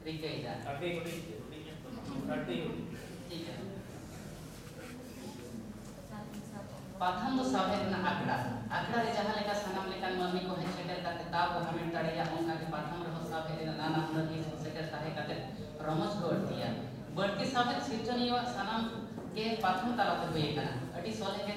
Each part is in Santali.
ᱴᱷᱤᱠ ᱜᱮᱭᱟ ᱟᱹᱰᱤ ᱦᱩᱰᱤᱧ ᱦᱩᱰᱤᱧ ᱧᱚᱜ ᱫᱚ ᱵᱟᱝ ᱟᱹᱰᱤ ᱦᱩᱰᱤᱧ ᱴᱷᱤᱠ ᱜᱮᱭᱟ ᱯᱟᱛᱷᱟᱢ ᱫᱚ ᱥᱟᱶᱦᱮᱫ ᱨᱮᱱᱟᱜ ᱟᱠᱷᱲᱟ ᱟᱠᱷᱲᱟ ᱨᱮ ᱡᱟᱦᱟᱸ ᱞᱮᱠᱟ ᱥᱟᱱᱟᱢ ᱞᱮᱠᱟᱱ ᱢᱟᱹᱱᱢᱤ ᱠᱚ ᱦᱮᱡ ᱥᱮᱴᱮᱨ ᱠᱟᱛᱮ ᱫᱟᱣ ᱠᱚ ᱦᱟᱢᱮᱴ ᱫᱟᱲᱮᱭᱟᱜ ᱚᱱᱠᱟ ᱜᱮ ᱯᱟᱛᱷᱟᱢ ᱨᱮᱦᱚᱸ ᱥᱟᱶᱦᱮᱫ ᱨᱮᱱᱟᱜ ᱱᱟᱱᱟ ᱦᱩᱱᱟᱹᱨ ᱦᱤᱸᱥ ᱠᱚ ᱥᱮᱴᱮᱨ ᱛᱟᱦᱮᱸ ᱠᱟᱛᱮ ᱨᱚᱢᱚᱡᱽ ᱠᱚ ᱟᱹᱲᱛᱤᱭᱟ ᱵᱟᱹᱲᱛᱤ ᱥᱟᱶᱦᱮᱫ ᱥᱤᱨᱡᱚᱱᱤᱭᱟᱹᱣᱟᱜ ᱥᱟᱱᱟᱢ ᱜᱮ ᱯᱟᱛᱷᱟᱢ ᱛᱟᱞᱟᱛᱮ ᱦᱩᱭ ᱟᱠᱟᱱᱟ ᱟᱹᱰᱤ ᱥᱚᱞᱦᱮ ᱜᱮ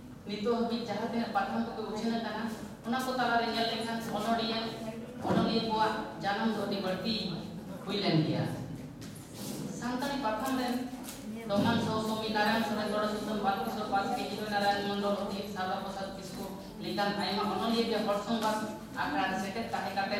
ᱱᱤᱛᱚᱜ ᱦᱟᱹᱵᱤᱡ ᱡᱟᱦᱟᱸ ᱛᱤᱱᱟᱹᱜ ᱯᱟᱛᱷᱟᱢ ᱠᱚᱯᱮ ᱩᱪᱷᱟᱹᱱ ᱟᱠᱟᱱᱟ ᱚᱱᱟ ᱠᱚ ᱛᱟᱞᱟᱨᱮ ᱧᱮᱞ ᱞᱮᱠᱷᱟᱱ ᱚᱱᱚᱲᱤᱭᱟᱹ ᱚᱱᱚᱞᱤᱭᱟᱹ ᱠᱚᱣᱟᱜ ᱡᱟᱱᱟᱢ ᱫᱚ ᱟᱹᱰᱤ ᱵᱟᱹᱲᱛᱤ ᱦᱩᱭ ᱞᱮᱱ ᱜᱮᱭᱟ ᱥᱟᱱᱛᱟᱲᱤ ᱯᱟᱛᱷᱟᱢ ᱨᱮᱱ ᱫᱚᱢᱟᱱ ᱥᱚ ᱥᱚᱢᱤ ᱱᱟᱨᱟᱭᱚᱱ ᱥᱚᱨᱮᱱ ᱫᱚᱲᱚ ᱥᱩᱛᱟᱹᱢ ᱵᱟᱞᱠᱤᱥᱚᱨ ᱵᱟᱥᱠᱮ ᱦᱤᱨᱚ ᱱᱟᱨᱟᱭᱚᱱ ᱢᱚᱱᱰᱚᱞ ᱚᱛᱤᱛ ᱥᱟᱨᱵᱟ ᱯᱨᱚᱥᱟᱫᱽ ᱠᱤᱥᱠᱩ ᱞᱮᱠᱟᱱ ᱟᱭᱢᱟ ᱚᱱᱚᱞᱤᱭᱟᱹ ᱜᱮ ᱦᱚᱲ ᱥᱚᱝᱵᱟᱫ ᱟᱠᱷᱲᱟ ᱨᱮ ᱥᱮᱴᱮᱨ ᱛᱟᱦᱮᱸ ᱠᱟᱛᱮ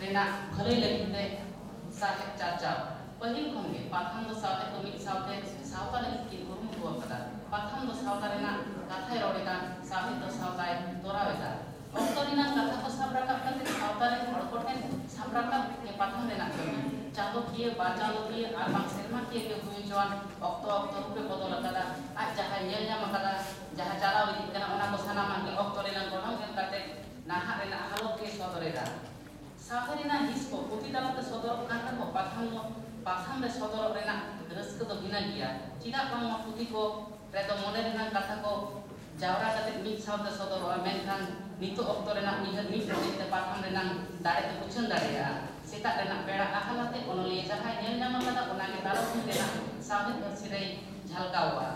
ᱨᱮᱱᱟᱜ ᱵᱷᱟᱹᱞᱟᱹᱭ ᱞᱟᱹᱜᱤᱫ ᱛᱮ ᱥᱟᱶᱦᱮᱫ ᱪᱟᱨᱪᱟᱣ᱾ ᱯᱟᱹᱦᱤᱞ ᱠᱷᱚᱱ ᱜᱮ ᱯᱟᱛᱷᱟᱢ ᱫᱚ ᱥᱟᱶᱦᱮᱫ ᱫᱚ ᱢᱤᱫ ᱥᱟᱶᱛᱮ ᱥᱟᱶᱛᱟ ᱞᱟᱹᱜᱤᱫ ᱠᱤᱱ ᱠᱩᱨᱩᱢᱩᱴᱩ ᱟᱠᱟᱫᱟ᱾ ᱯᱟᱛᱷᱟᱢ ᱫᱚ ᱥᱟᱶᱛᱟ ᱨᱮᱱᱟᱜ ᱠᱟᱛᱷᱟᱭ ᱨᱚᱲ ᱮᱫᱟ, ᱥᱟᱶᱦᱮᱫ ᱫᱚ ᱥᱟᱶᱛᱟᱭ ᱛᱚᱨᱟᱣ ᱮᱫᱟ᱾ ᱚᱠᱛᱚ ᱨᱮᱱᱟᱜ ᱠᱟᱛᱷᱟ ᱠᱚ ᱥᱟᱵ ᱨᱟᱠᱟᱵ ᱠᱟᱛᱮ ᱥᱟᱶᱛᱟ ᱨᱮᱱ ᱦᱚᱲ ᱠᱚ ᱴᱷᱮᱱ ᱥᱟᱵ ᱨᱟᱠᱟᱵ ᱜᱮ ᱯᱟᱛᱷᱟᱢ ᱨᱮᱱᱟᱜ ᱠᱟᱹᱢᱤ᱾ ᱪᱟᱸᱫᱚᱠᱤᱭᱟᱹ, ᱵᱟᱨ ᱪᱟᱸᱫᱚᱠᱤᱭᱟᱹ ᱟᱨ ᱵᱟᱝ ᱥᱮᱨᱢᱟᱠᱤᱭᱟᱹ ᱜᱮ ᱦᱩᱭ ᱦᱚᱪᱚᱣᱟᱱ ᱚᱠᱛᱚ ᱚᱠᱛᱚ ᱨᱩᱯ ᱮ ᱵᱚᱫᱚᱞ ᱟᱠᱟᱫᱟ᱾ ᱟᱡ ᱡᱟᱦᱟᱸᱭ ᱧᱮᱞ ᱧᱟᱢ ᱟᱠᱟᱫᱟ, ᱡᱟᱦᱟᱸ ᱪᱟᱞᱟᱣ ᱤᱫᱤᱜ ᱠᱟᱱᱟ ᱚᱱᱟ ᱠᱚ ᱥᱟᱱᱟᱢᱟᱜ ᱜᱮ ᱚᱠᱛᱚ ᱨᱮᱱᱟᱜ ᱜᱚᱱᱚᱝ ᱮᱢ ᱠᱟᱛᱮ ᱱᱟᱦᱟᱜ ᱨᱮᱱᱟᱜ ᱦᱟᱞᱚᱛ ᱜᱮᱭ ᱥᱚᱫᱚᱨ ᱮᱫᱟ᱾ ᱥᱟᱶᱦᱮᱫ ᱨᱮᱱᱟᱜ ᱦᱤᱸᱥ ᱠᱚ ᱯᱩᱛᱷᱤ ᱛᱟᱞᱟ ᱛᱮ ᱥᱚᱫᱚᱨᱚᱜ ᱠᱟᱱ ᱨᱮᱦᱚᱸ ᱯᱟᱛᱷᱟᱢ ᱫᱚ ᱯᱟᱛᱷᱟᱢ ᱨᱮ ᱥᱚᱫᱚᱨᱚᱜ ᱨᱮᱱᱟᱜ ᱨᱟᱹᱥᱠᱟᱹ ᱫᱚ ᱵᱷᱤᱱᱟᱹ ᱜᱮᱭᱟ᱾ ᱪᱮᱫᱟᱜ ᱵᱟᱝᱢᱟ ᱯᱩᱛᱷᱤ ᱠᱚ ᱨᱮᱫᱚ ᱢᱚᱱᱮ ᱨᱮᱱᱟᱜ ᱠᱟᱛᱷᱟ ᱠᱚ ᱡᱟᱣᱨᱟ ᱠᱟᱛᱮ ᱢᱤᱫ ᱥᱟᱶᱛᱮ ᱥᱚᱫᱚᱨᱚᱜᱼᱟ ᱢᱮᱱᱠᱷᱟᱱ ᱱᱤᱛᱚᱜ ᱚᱠᱛᱚ ᱨᱮᱱᱟᱜ ᱩᱭᱦᱟᱹᱨ ᱢᱤᱫ ᱢᱚᱱᱮ ᱛᱮ ᱯᱟᱛᱷᱟᱢ ᱨᱮᱱᱟᱜ ᱫᱟᱲᱮ ᱫᱚ ᱩᱪᱷᱟᱹᱱ ᱫᱟᱲᱮᱭᱟᱜᱼᱟ᱾ ᱥᱮᱛᱟᱜ ᱨᱮᱱᱟᱜ ᱵᱮᱲᱟ ᱟᱦᱟᱞ ᱟᱛᱮ ᱚᱱᱚᱞᱤᱭᱟᱹ ᱡᱟᱦᱟᱸᱭ ᱧᱮᱞ ᱧᱟᱢ ᱟᱠᱟᱫᱟ ᱚᱱᱟ ᱜᱮ ᱛᱟᱨᱟᱥᱤᱧ ᱨᱮᱱᱟᱜ ᱥᱟᱶᱦᱮᱫ ᱯᱟᱹᱨᱥᱤ ᱨᱮᱭ ᱡᱷᱟᱞᱠᱟᱣᱜᱼᱟ᱾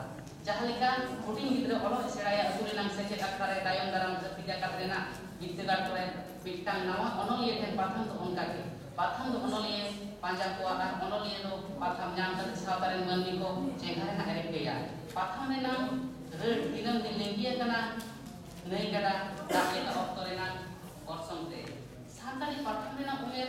ᱡᱟᱦᱟᱸ ᱞᱮᱠᱟ ᱦᱩᱰᱤᱧ ᱜᱤᱫᱽᱨᱟᱹ ᱚᱞᱚᱜ ᱮ ᱥᱮᱬᱟᱭᱟ ᱟᱹᱛᱩ ᱨᱮᱱᱟᱜ ᱥᱮᱪᱮᱫ ᱟᱠᱷᱲᱟ ᱨᱮ ᱛᱟᱭᱚᱢ ᱫᱟᱨᱟᱢ ᱫᱷᱟᱹᱨᱛᱤ ᱡᱟᱠᱟᱛ ᱨᱮᱱᱟᱜ ᱵᱤᱨᱫᱟᱹᱜᱟᱲ ᱠᱚᱨᱮ ᱢᱤᱫᱴᱟᱝ ᱱᱟᱣᱟ ᱚᱱᱚᱞᱤᱭᱟᱹ ᱴᱷᱮᱱ ᱯᱟᱛᱷᱟᱢ ᱫᱚ ᱚᱱᱠᱟ ᱜᱮ᱾ ᱯᱟᱛᱷᱟᱢ ᱫᱚ ᱚᱱᱚᱞᱤᱭᱟᱹᱭ ᱯᱟᱸᱡᱟ ᱠᱚᱣᱟ ᱟᱨ ᱚᱱᱚᱞᱤᱭᱟᱹ ᱫᱚ ᱯᱟᱛᱷᱟᱢ ᱧᱟᱢ ᱠᱟᱛᱮ ᱥᱟᱶᱛᱟ ᱨᱮᱱ ᱢᱟᱹᱱᱢᱤ ᱠᱚ ᱪᱮᱸᱜᱷᱟ ᱨᱮᱱᱟᱜ ᱮ ᱨᱤᱠᱟᱹᱭᱟ᱾ ᱯᱟᱛᱷᱟᱢ ᱨᱮᱱᱟᱜ ᱨᱟᱹᱲ ᱫᱤᱱᱟᱹᱢ ᱫᱤᱱ ᱞᱤᱸᱜᱤ ᱟᱠᱟᱱᱟ ᱱᱟᱹᱭ ᱜᱟᱰᱟ ᱫᱟᱜ ᱞᱮᱠᱟ ᱚᱠᱛᱚ ᱨᱮᱱᱟᱜ ᱚᱨᱥᱚᱝ ᱛᱮ᱾ ᱥᱟᱱᱛᱟᱲᱤ ᱯᱟᱛᱷᱟᱢ ᱨᱮᱱᱟᱜ ᱩᱢᱮᱨ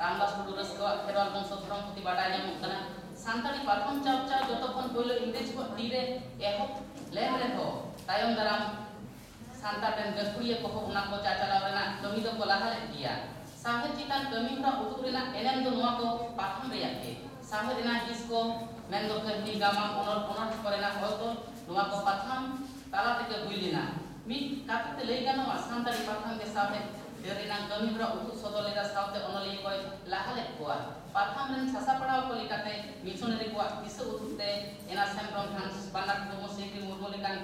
ᱨᱟᱢᱫᱟᱥ ᱴᱩᱰᱩ ᱨᱟᱹᱥᱠᱟᱹᱣᱟᱜ ᱠᱷᱮᱨᱣᱟᱞ ᱵᱚᱝᱥᱚ ᱫᱷᱚᱨᱚᱢ ᱯᱩᱛᱷᱤ ᱵᱟᱰᱟᱭ ᱧᱟᱢᱚᱜ ᱠᱟᱱᱟ᱾ ᱥᱟᱱᱛᱟᱲᱤ ᱯᱟᱛᱷᱟᱢ ᱪᱟᱨᱪᱟᱣ ᱡᱚᱛᱚ ᱠᱷᱚᱱ ᱯᱳᱭᱞᱳ ᱤᱝᱨᱮᱡᱽ ᱠᱚᱣᱟᱜ ᱛᱤ ᱨᱮ ᱮᱦᱚᱵ ᱞᱮᱱ ᱨᱮᱦᱚᱸ ᱛᱟᱭᱚᱢ ᱫᱟᱨᱟᱢ ᱥᱟᱱᱛᱟᱲ ᱨᱮᱱ ᱜᱟᱹᱠᱷᱩᱲᱤᱭᱟᱹ ᱠᱚᱦᱚᱸ ᱚᱱᱟ ᱠᱚ ᱪᱟᱪᱟᱞᱟᱣ ᱨᱮᱱᱟᱜ ᱠᱟᱹᱢᱤ ᱫᱚ ᱠᱚ ᱞᱟᱦᱟ ᱞᱮᱫ ᱜᱮᱭᱟ᱾ ᱥᱟᱶᱦᱮᱫ ᱪᱮᱛᱟᱱ ᱠᱟᱹᱢᱤ ᱦᱚᱨᱟ ᱩᱫᱩᱜ ᱨᱮᱱᱟᱜ ᱮᱱᱮᱢ ᱫᱚ ᱱᱚᱶᱟ ᱠᱚ ᱯᱟᱛᱷᱟᱢ ᱨᱮᱭᱟᱜ ᱜᱮ᱾ ᱥᱟᱶᱦᱮᱫ ᱨᱮᱱᱟᱜ ᱦᱤᱸᱥ ᱠᱚ ᱢᱮᱱ ᱫᱚ ᱠᱟᱹᱦᱱᱤ, ᱜᱟᱢᱟᱢ, ᱚᱱᱚᱞ, ᱚᱱᱚᱬᱦᱮ ᱠᱚ ᱨᱮᱱᱟᱜ ᱚᱞ ᱛᱚᱞ ᱱᱚᱶᱟ ᱠᱚ ᱯᱟᱛᱷᱟᱢ ᱛᱟᱞᱟ ᱛᱮᱜᱮ ᱦᱩᱭ ᱞᱮᱱᱟ᱾ ᱢᱤᱫ ᱠᱟᱛᱷᱟ ᱛᱮ ᱞᱟᱹᱭ ᱜᱟᱱᱚᱜᱼᱟ ᱥᱟᱱᱛᱟᱲᱤ ᱯᱟᱛᱷᱟᱢ ᱜᱮ ᱥᱟᱶᱦᱮᱫ ᱰᱟᱹᱨ ᱨᱮᱱᱟᱜ ᱠᱟᱹᱢᱤ ᱦᱚᱨᱟ ᱩᱫᱩᱜ ᱥᱚᱫᱚᱨ ᱞᱮᱫᱟ ᱥᱟᱶᱛᱮ ᱚᱱᱚᱞᱤᱭᱟᱹ ᱠᱚᱭ ᱞᱟᱦᱟ ᱞᱮᱫ ᱠᱚᱣᱟ᱾ ᱯᱟᱛᱷᱟᱢ ᱨᱮᱱ ᱥᱟᱥᱟᱯᱲᱟᱣ ᱠᱚ ᱞᱮᱠᱟᱛᱮ ᱢᱤᱥᱚᱱᱟᱨᱤ ᱠᱚᱣᱟᱜ ᱫᱤᱥᱟᱹ ᱩᱫᱩᱜ ᱛᱮ ᱮᱱᱟᱥ ᱦᱮᱢᱵᱽᱨᱚᱢ, ᱦᱟᱱᱥ ᱵᱟᱨᱱᱟᱰ ᱴᱩᱰᱩ, ᱥᱤᱞᱵᱤ ᱢᱩᱨᱢᱩ ᱞᱮᱠᱟᱱ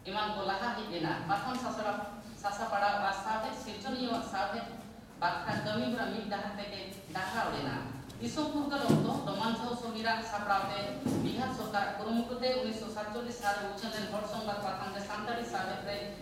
ᱮᱢᱟᱱ ᱠᱚ ᱞᱟᱦᱟ ᱦᱮᱡ ᱞᱮᱱᱟ᱾ ᱯᱟᱛᱷᱟᱢ ᱥᱟᱥᱲᱟᱣ, ᱥᱟᱥᱟᱯᱲᱟᱣ ᱟᱨ ᱥᱟᱶᱦᱮᱫ ᱥᱤᱨᱡᱚᱱᱤᱭᱟᱹᱣᱟᱜ ᱥᱟᱶᱦᱮᱫ ᱵᱟᱠᱷᱨᱟ ᱠᱟᱹᱢᱤ ᱦᱚᱨᱟ ᱢᱤᱫ ᱰᱟᱦᱟᱨ ᱛᱮᱜᱮ ᱰᱟᱦᱨᱟᱣ ᱞᱮᱱᱟ᱾ ᱫᱤᱥᱚᱢ ᱯᱷᱩᱨᱜᱟᱹᱞ ᱚᱠᱛᱚ ᱰᱚᱢᱟᱱ ᱡᱷᱚ ᱥᱚᱢᱤᱨ ᱟᱜ ᱥᱟᱯᱲᱟᱣ ᱛᱮ ᱵᱤᱦᱟᱨ ᱥᱚᱨᱠᱟᱨᱟᱜ ᱠᱩᱨᱩᱢᱩᱴᱩ ᱛᱮ ᱩᱱᱤᱥᱥᱚ ᱥᱟᱛᱪᱚᱞᱞᱤᱥ ᱥᱟᱞ ᱨᱮ ᱩᱪᱷᱟᱹᱱ ᱞᱮᱱ ᱦᱚᱲ ᱥᱚᱝᱵᱟᱫᱽ ᱯᱟᱛᱷᱟᱢ ᱛᱮ ᱥᱟᱱᱛᱟᱲᱤ ᱥᱟᱶᱦᱮᱫ ᱨᱮ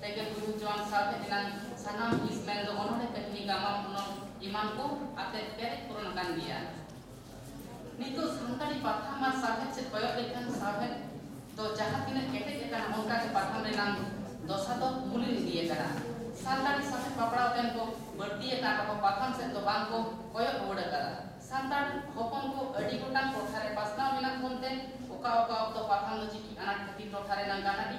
ᱛᱮᱜᱮ ᱜᱩᱨᱩ ᱡᱚᱱ ᱥᱟᱶᱦᱮᱫ ᱮᱱᱟᱝ ᱥᱟᱱᱟᱢ ᱦᱤᱸᱥ ᱢᱮᱱᱫᱚ ᱚᱱᱚᱬᱦᱮ, ᱠᱟᱹᱦᱱᱤ, ᱜᱟᱢᱟᱢ, ᱚᱱᱚᱞ ᱮᱢᱟᱱ ᱠᱚ ᱟᱛᱮ ᱯᱮᱨᱮᱡ ᱯᱩᱨᱚᱱ ᱟᱠᱟᱱ ᱜᱮᱭᱟ᱾ ᱱᱤᱛᱚᱜ ᱥᱟᱱᱛᱟᱲᱤ ᱯᱟᱛᱷᱟᱢ ᱟᱨ ᱥᱟᱶᱦᱮᱫ ᱥᱮᱫ ᱠᱚᱭᱚᱜ ᱞᱮᱠᱷᱟᱱ ᱥᱟᱶᱦᱮᱫ ᱫᱚ ᱡᱟᱦᱟᱸ ᱛᱤᱱᱟᱹᱜ ᱠᱮᱴᱮᱡ ᱟᱠᱟᱱᱟ ᱚᱱᱠᱟ ᱜᱮ ᱯᱟᱛᱷᱟᱢ ᱨᱮᱱᱟᱝ ᱫᱚᱥᱟ ᱫᱚ ᱢᱩᱞᱤᱱ ᱤᱫᱤ ᱟᱠᱟᱱᱟ᱾ ᱥᱟᱱᱛᱟᱲᱤ ᱥᱟᱶᱦᱮᱫ ᱯᱟᱯᱲᱟᱣ ᱛᱮᱱ ᱠᱚ ᱵᱟᱹᱲᱛᱤ ᱟᱠᱟᱱ ᱨᱮᱦᱚᱸ ᱯᱟᱛᱷᱟᱢ ᱥᱮᱫ ᱫᱚ ᱵᱟᱝ ᱠᱚ ᱠᱚᱭᱚᱜ ᱨᱩᱣᱟᱹᱲ ᱟᱠᱟᱫᱟ᱾ ᱥᱟᱱᱛᱟᱲ ᱦᱚᱯᱚᱱ ᱠᱚ ᱟᱹᱰᱤ ᱜᱚᱴᱟᱝ ᱴᱚᱴᱷᱟ ᱨᱮ ᱯᱟᱥᱱᱟᱣ ᱢᱮᱱᱟᱜ ᱵᱚᱱ ᱛᱮ ᱚᱠᱟ ᱚᱠᱟ ᱚᱠᱛᱚ ᱯᱟᱛᱷᱟᱢ ᱫᱚ ᱪᱤᱠᱤ ᱟᱱᱟᱴ ᱠᱷᱟᱹᱛᱤᱨ ᱴᱚᱴᱷᱟ ᱨᱮᱱᱟᱝ ᱜᱟᱱᱟᱰᱤ,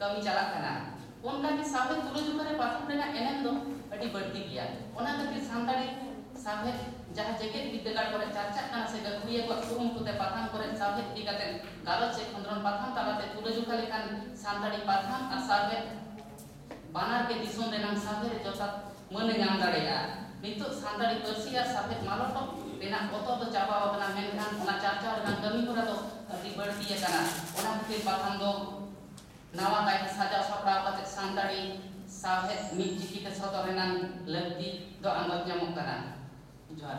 ᱠᱟᱹᱢᱤ ᱪᱟᱞᱟᱜ ᱠᱟᱱᱟ᱾ ᱚᱱᱠᱟ ᱜᱮ ᱥᱟᱶᱦᱮᱫ ᱛᱩᱞᱟᱹᱡᱚᱠᱷᱟ ᱨᱮ ᱯᱟᱛᱷᱟᱢ ᱨᱮᱱᱟᱜ ᱮᱱᱮᱢ ᱫᱚ ᱟᱹᱰᱤ ᱵᱟᱹᱲᱛᱤ ᱜᱮᱭᱟ᱾ ᱚᱱᱟ ᱠᱷᱟᱹᱛᱤᱨ ᱥᱟᱱᱛᱟᱲᱤ ᱥᱟᱶᱦᱮᱫ ᱡᱟᱦᱟᱸ ᱡᱮᱜᱮᱛ ᱵᱤᱨᱫᱟᱹᱜᱟᱲ ᱠᱚᱨᱮ ᱪᱟᱨᱪᱟᱜ ᱠᱟᱱᱟ ᱥᱮ ᱜᱟᱹᱠᱷᱩᱲᱤᱭᱟᱹ ᱠᱚᱣᱟᱜ ᱠᱩᱨᱩᱢᱩᱴᱩ ᱛᱮ ᱯᱟᱛᱷᱟᱢ ᱠᱚᱨᱮ ᱥᱟᱶᱦᱮᱫ ᱤᱫᱤ ᱠᱟᱛᱮ ᱜᱟᱞᱚᱪ ᱪᱮ ᱠᱷᱚᱸᱫᱽᱨᱚᱱ ᱯᱟᱛᱷᱟᱢ ᱛᱟᱞᱟ ᱛᱮ ᱛᱩᱞᱟᱹᱡᱚᱠᱷᱟ ᱞᱮᱠᱷᱟᱱ ᱥᱟᱱᱛᱟᱲᱤ ᱯᱟᱛᱷᱟᱢ ᱟᱨ ᱥᱟᱶᱦᱮᱫ ᱵᱟᱱᱟᱨ ᱜᱮ ᱫᱤᱥᱚᱢ ᱨᱮᱱᱟᱝ ᱥᱟᱶᱦᱮᱫ ᱨᱮ ᱡᱚᱛᱷᱟᱛ ᱢᱟᱹᱱ ᱮ ᱧᱟᱢ ᱫᱟᱲᱮᱭᱟᱜᱼᱟ᱾ ᱱᱤᱛᱚᱜ ᱥᱟᱱᱛᱟᱲᱤ ᱯᱟᱹᱨᱥᱤ ᱟᱨ ᱥᱟᱶᱦᱮᱫ ᱢᱟᱞᱚᱴᱚᱜ ᱨᱮᱱᱟᱜ ᱵᱚᱛᱚᱨ ᱫᱚ ᱪᱟᱵᱟ ᱟᱠᱟᱱᱟ ᱢᱮᱱᱠᱷᱟᱱ ᱚᱱᱟ ᱪᱟᱨᱪᱟᱣ ᱨᱮᱱᱟᱜ ᱠᱟᱹᱢᱤ ᱦᱚᱨᱟ ᱫᱚ ᱟᱹᱰᱤ ᱵᱟᱹᱲᱛᱤ ᱟᱠᱟᱱᱟ᱾ ᱚᱱᱟ ᱠᱷᱟᱹᱛᱤᱨ ᱯᱟᱛᱷᱟᱢ ᱫᱚ ᱱᱟᱣᱟ ᱠᱟᱭᱛᱮ ᱥᱟᱡᱟᱣ ᱥᱟᱯᱲᱟᱣ ᱠᱟᱛᱮ ᱥᱟᱱᱛᱟᱲᱤ ᱥᱟᱶᱦᱮᱫ ᱢᱤᱫ ᱪᱤᱠᱤ ᱛᱮ ᱥᱚᱫᱚᱨ ᱨᱮᱱᱟᱜ ᱞᱟᱹᱠᱛᱤ ᱫᱚ ᱟᱸᱜᱚᱪ ᱧᱟᱢᱚᱜ ᱠᱟᱱᱟ᱾ ᱡᱚᱦᱟᱨ᱾